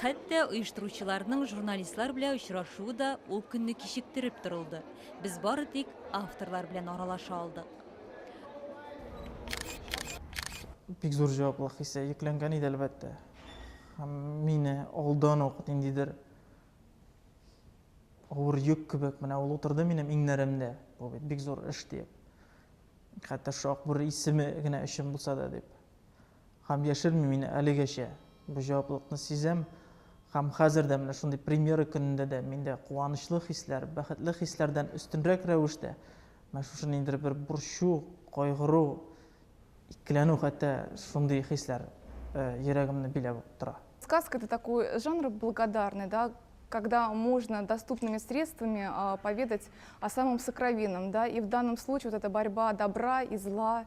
Хәтта оештыручыларның журналистлар белә очрашуы да ул көнне кичектереп торылды. Без бары тик авторлар белән аралаша алдык. Бик зур җаваплылык хисе йөкләнгән иде, әлбәттә. Һәм мине алдан ук ниндидер авыр йөк кебек менә ул утырды минем иңнәремдә. Бу бит бик зур эш диеп. Хәтта шушы Акбүре исеме генә өчен булса да дип. Һәм яшермим, мин әлегәчә бу җаваплылыкны сизәм. Һәм хәзер дә, менә шундый премьера көнендә дә миндә куанычлы хисләр, бәхетле хисләрдән өстенрәк рәвештә, менә шушы ниндидер бер борчу, кайгыру, икеләнү хәтта шундый хисләр йөрәгемне биләп тора. Сказка это такой жанр благодарный, да, когда можно доступными средствами поведать о самом сокровенном, да, и в данном случае вот эта борьба добра и зла,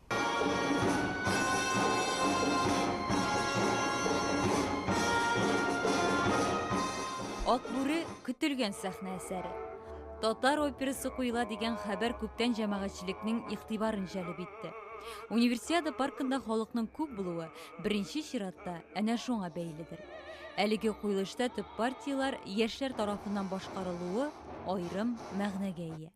Ак бүре көтелгән сәхнә әсәре. Татар операсы куела дигән хәбәр күптән җәмәгатьчелекнең игътибарын җәлеп итте. Универсиада паркында халыкның күп булуы беренче чиратта әнә шуңа бәйледер. Әлеге куелышта төп партияләр яшьләр тарафыннан башкарылуы аерым мәгънәгә ия.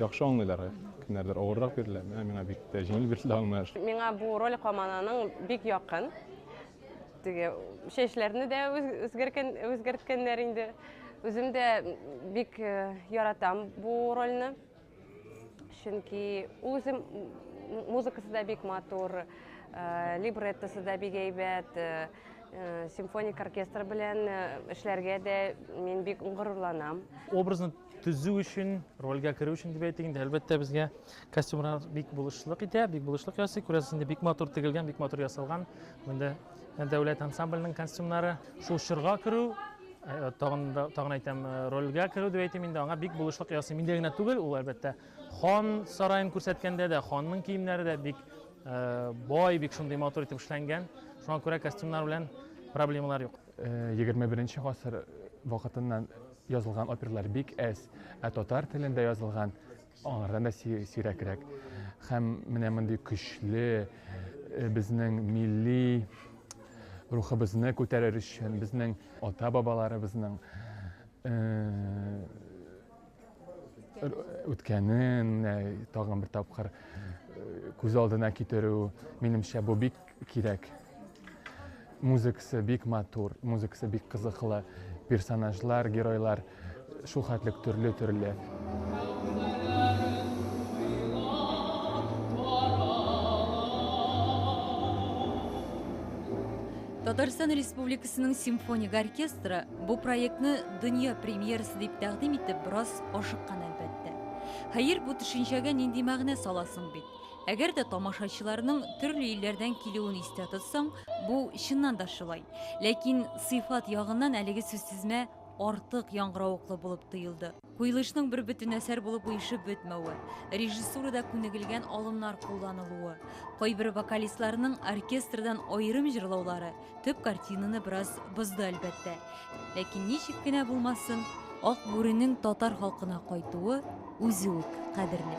Яхшы аңлыйлар, кемнәрдер авыррак бирелә, менә миңа бик тә җиңел бирелде аңлаш. Миңа бу роль Камананың бик якын. Теге чәчләрне дә үзгәрткән, үзгәрткәннәр инде. Үзем дә бик э, яратам бу рольне. Чөнки үзем музыкасы да бик матур, э, либреттосы да бик әйбәт. Э, Э, симфоник оркестр белән э, эшләргә дә мин бик горурланам. Образны Төзү өчен, рольгә керү өчен дип әйтик инде, әлбәттә безгә костюмнар бик булышлык итә, бик булышлык ясый. Күрәсез инде, бик матур тегелгән, бик матур ясалган. Монда дәүләт ансамбленең костюмнары. Шул чорга керү, э, тагын да тагын әйтәм, э, рольгә керү дип әйтим инде, аңа бик булышлык ясый. Миндә генә түгел, ул әлбәттә хан сараен күрсәткәндә дә, ханның киемнәре дә бик э, бай, бик шундый матур итеп эшләнгән. Шуңа күрә костюмнар белән проблемалар юк. 21 э, гасыр вакытыннан Язылган оперлар бик әз, ә татар телендә язылган аңардан да сирәкрәк. Һәм менә мондый көчле э, безнең милли рухыбызны күтәрер өчен, безнең ата-бабаларыбызның э, үткәнен тагын бер тапкыр э, күз алдына китерү, минемчә, бу бик Кирәк. Музыкасы бик матур, музыкасы бик кызыклы, персонажлар, геройлар шул хәтлек төрле-төрле. Татарстан Республикасының симфоник оркестры бу проектны дөнья премьерасы дип тәкъдим итеп бераз ашыккан әлбәттә. Хәер, бу төшенчәгә нинди мәгънә саласың бит? Әгәр дә тамашачыларның төрле илләрдән килүен истә тотсаң, бу чыннан да шулай. Ләкин сыйфат ягыннан әлеге сүзтезмә артык яңгыравыклы булып тоелды. Куелышның бер бөтен әсәр булып оешып бетмәве, режиссурада күнегелгән алымнар кулланылуы, кайбер вокалистларның оркестрдан аерым җырлаулары, Төп картинаны бераз бозды, әлбәттә. Ләкин ничек кенә булмасын, ак бүренең татар халкына кайтуы үзе үк кадерле.